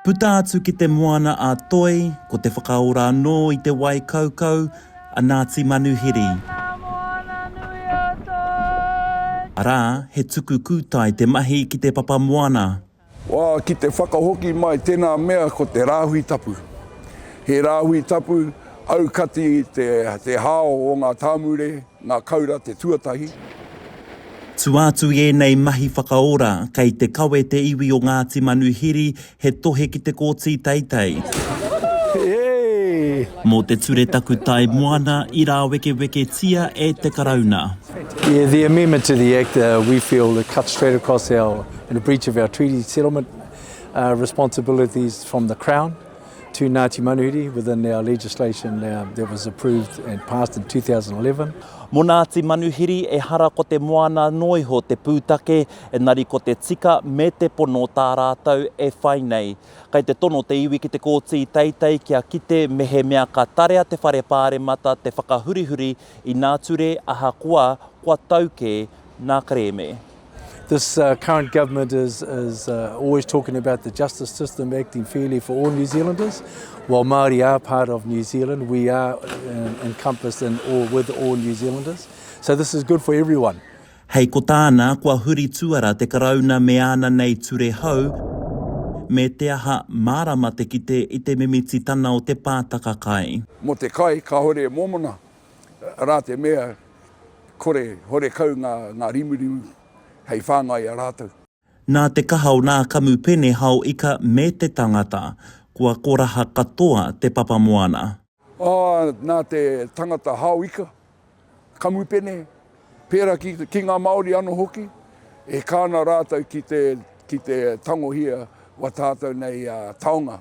Puta atu ki te moana a Toi, ko te whakaora anō i te wai kaukau a Ngāti Manuhiri. Arā, he tuku kūtai te mahi ki te papa moana. Wā, ki te whakahoki mai tēnā mea ko te rāhui tapu. He rāhui tapu aukati te hao o ngā tāmure, Ngā Kaura te tuatahi. Tua atu i ēnei mahi whakaora, kei te kawe te iwi o Ngāti Manuhiri he tohe ki te kōti teitei. Mō te ture takutai moana i rāwekeweketia e te Karauna. Yeah, the amendment to the Act, we feel it cuts straight across our, in a breach of our treaty settlement responsibilities from the Crown. to Ngāti Manuhiri within our legislation uh, that was approved and passed in 2011. Mo Ngāti Manuhiri, ehara ko te moana noa iho te pūtake, engari ko te tika me te pono tā rātou e whai nei. Kei te tono te iwi ki te kōti teitei kia kite mehemea ka tarea te whare pāremata te whakahurihuri inā ture ahakoa kua tau kē ngā kerēme. This uh, current government is, is uh, always talking about the justice system acting fairly for all New Zealanders. While Māori are part of New Zealand, we are uh, encompassed in all, with all New Zealanders. So this is good for everyone. Hei ko tāna, kua huri tuara te karauna me āna nei ture hou, me te aha mārama te kite i te mimititana o te pātaka kai. Mo te kai, kāore e mōmona, Arā te mea, kore, horekau ngā, ngā rimurimu hei whāngai i a rātou. Nā te kaha o nā kamupene hao ika me te tangata, kua koraha katoa te papa moana. Ā, nā te tangata hao ika, kamupene, pērā ki, ki ngā Māori anō hoki, e kā ana rātou ki te, ki te tangohia o a tātou nei taonga.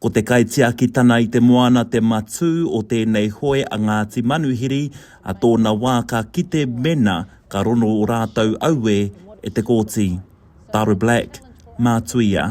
Ko te kaitiakitana i te moana te matū o tēnei hoe a Ngāti Manuhiri, a tōna wā ka kite mena ka rono o rātou auē e te Kōti. Tara Black, Mātuia.